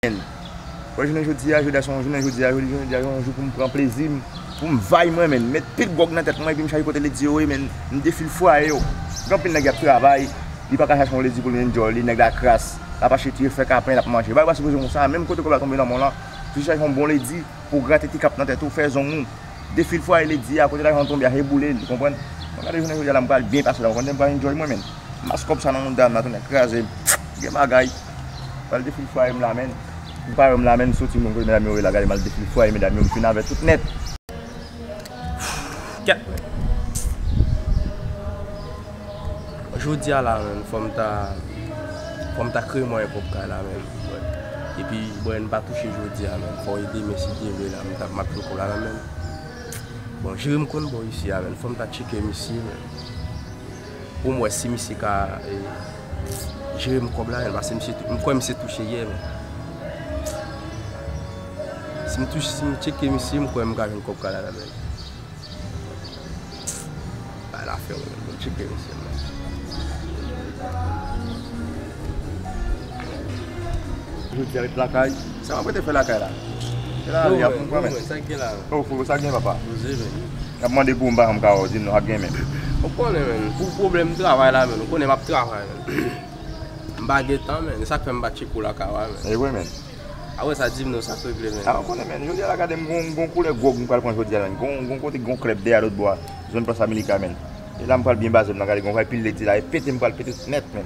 Amen Wè jounen jodi a jodi a se yon jounen jodi a jodi jounen jodi a se yon jou pou m pran plezi m pou m vibe mwen men m met pil gwòg nan tèt mwen epi m chache kote ledi yo ye men m defilfwaye yo gen anpil nèg y ap travay li pa ka chache yon ledi pou l enjoy li nèg la kras l ap achte ti yo fè kapen l ap manje bagay pa sipoze konsa menm kote kòb la tonbe nan men w lan si w chache yon bon ledi pou w grate ti kap nan tèt ou fè zong ou defilfwaye ledi a kote lajan w tonbe a reboule l ou konprann mwen gade jounen jodi a la m pral byen pase la ou konprann m pral enjoy mwen menm. Mas kob sa nan moudam la tounen kraze m gen bagay mal defini fwaye m la menn m pa wè m la menn m soti m wè medam yo la gade mal defini fwaye medam yo m fin avè tout nèt. Kèt mwen. Jodia la menm fòm ta fòm ta kreye mwayen pwòp kay la menm wè epi mwen pa touche jodia menm fò e demen si Dye vle la m ta map jwenn kob la nan menm bon jere m konn bò isi a menn fòm ta tcheke misye menn. Pou m wè si misye ka jere m kòb la menm pase misye m kwè misye touche yè menm si m touche si m tcheke misye m kwè m ka jwenn kòb kay la la menm bay la fè w menm m tcheke misye menm. Jodi a ret lakay. Sa wap rete fè lakay la. Se la alia pou pran men. Sa gen la. Oh fobo sa gen papa. Poze men. Yap mande pou mba mka ou di nou sa gen men. Ou konnen men pou problem travay la men ou konnen map travay men. Mpa gen tan men esak fè mpa tcheko lakay ou a men. Evre men. Awe sa dim non sak regle men. A ou konnen men jodi a la gadem gon gon koulè gròg mwen pral pran jodi a men gon gon kote gon klèb dèyè lòt bò a zòn plas america men. Ela mpral byen bazem la gade gon vay pil leti la e pete mpral pete nèt men.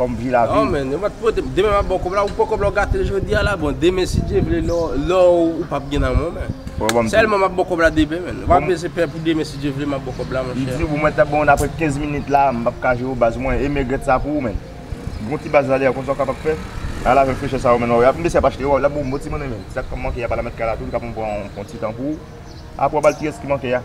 Fòm vi la vi. Amen yo pat potem demen map baw kob la ou pran kob la ou gatel jodia la bon demen si Dye vle lè ou pap gen nan mwen men selman map baw kob la demen men ou pa beze pè pou demen si Dye vle map baw kob la monchè. Idy pou mwen tap bon aprè 15 minit la m pap ka jwe ou baz mwen e m egrèt sa pou ou menn gon ti baz la deyè konsaw kapab fè al avèk frechè sa yo menn wap mesye ap achte waw lap bon bon ti mannay menn sak manke ya pa la mèt kay la tou li ka bon pran yon ti tan pou ou aprè w bal ti rès ki manke ya.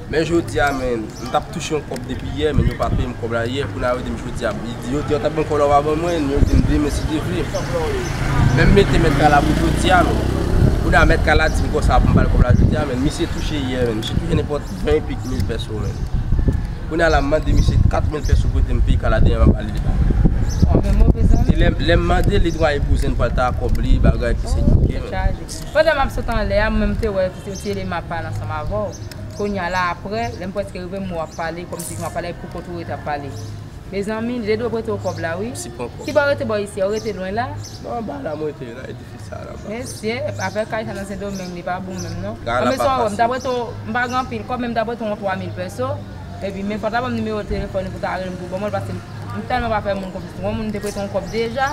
Men jodia men m tap touche yon kob depi yè men yo pa peyem kob la yè kounye a yo dim jodia jodia yo tap banm kob la yo pa banm anyen yo dim demen si Dieu veut men m mete mèt kay la pou jodia men kounye a mèt kay la dim konsa poum bal kob la jodia men misye touche yè men misye touche nenpòt 20 e pik mil pèso men kounye a la m mande misye 4 mil pèso kotem peye kay la deyè map bali li pa vle lèm mandel li dwaye bouzen pral ta kob li bagay plis edike men. Se yon ti ele map pale ansanm avèw kounya la aprè lèm preske rive mwen wap pale kòmsi jan wap pale avèk pou kont ou rete ap pale mezanmi li te dwe prete ou kòb la wi si pa rete bò isi a ou rete lwen la non anba la mwen rete nan edifis sa la anba mesye afè kay sa nan sendomeng li pa bon menm non an mesye wè wè mta prete ou mpa gen anpil kòb men mta prete ou yon 3000 pèso epi men fòw ta banm nimewo telefòn ou pou ta relem pou banmòl paske mtèlman pa fè moun konfyans wè yon moun mte prete ou kòb deja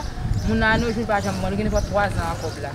moun la anojou li pa janm banmòl li gen nenpò 3 zan ak kòb la.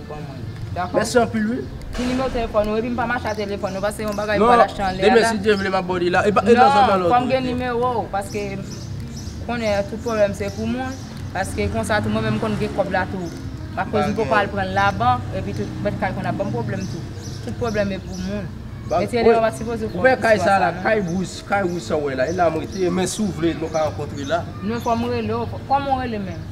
Bon mwen. Dakò. Mèsi anpil wi. Ki nimewo telefòn ou epi m pa mache a telefòn ou pase yon bagay m pral achte anlè a la. Non, demen si Dye vle m ap ba w li la. Non, fò m gen nimewo ou paske m konnen tout pwoblèm se pou moun paske konsa tou mwen menm m konn gen kòb la tou. M ap toujou poko al pran l la ban epi tout mèt kay konn ap ban m pwoblèm tou. Tout pwoblèm e pou moun. Men ti Elena ou pa sipoze konn istwa sa non. Ou wè kay sa la, kay wouj, kay wouj sa ou wè la, e la m rete. Men si w vle nou ka rankontre la. Non fò m rele w. Kòman ou rele menm?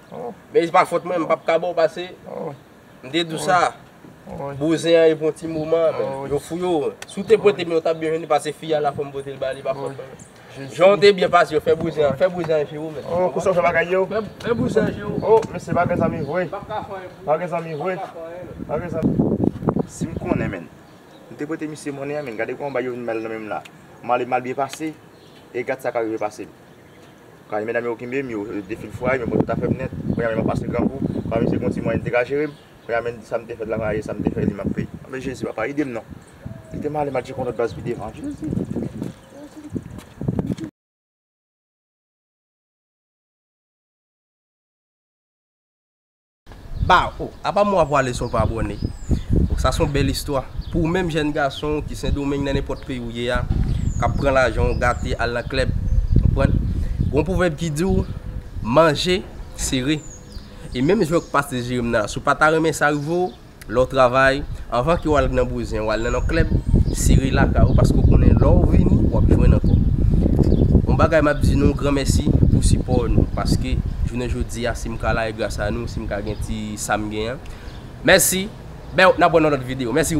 Men se pa fot mwen m pap ka baw pase m te diw sa bouzen an e pou yon ti moman men yo fou yo si w te pote m yo tap byen jwenn li pase fi a la fom pote l ba li pa fot mwen men jan w te byen pase yo fè bouzen an fè bouzen an je w men oh kousa w fè bagay yo fè bouzen an je w oh mesye pa gen zanmi vre m pap ka fè anyen pou pa gen zanmi vre m pap ka fè anyen non pa gen zanmi vre si m konnen men m te pote misye monnen an men gade kòman bagay yo vin mal nan men m la m ale mal byen pase e gad sa kap rive pase m. Kay medam yo kenbe m yo defil fway men bon yo ta fè m nèt Kounye a menm ap pase grangou M pa vin di se konti mwayen te ka jere m Kounye a menm sa m te fè la rayi sa m te fè li m ap peye Anmey Jezi papa ede m non Kite m ale ma djekon lòt baz pi devan Jezi Jezi. Ba oh apa mwen ap wale son pa abòne oh sa son bèl istwa pou ou menm jèn gason ki sendomeng nan nenpòt peyi ou ye a kap pran lajan ou gate al nan klèb konprann gon pwovèb ki di ou manje sere e menm jwè k pase jerem nan si w pa ta renmen sa rive w Lè w travay, anvan ke w al nan bouzen, w al nan yon klèb, sere lakay ou paske w konnen lè w vini, w ap jwenn ankò. Yon bagay m ap di nou granmèsi pou sipò nou paske jounen jodi a si m ka la e gras a nou, si m ka gen ti sa m gen an. Mèsi, bèw, n ap wè nan lòt videyo. Mèsi.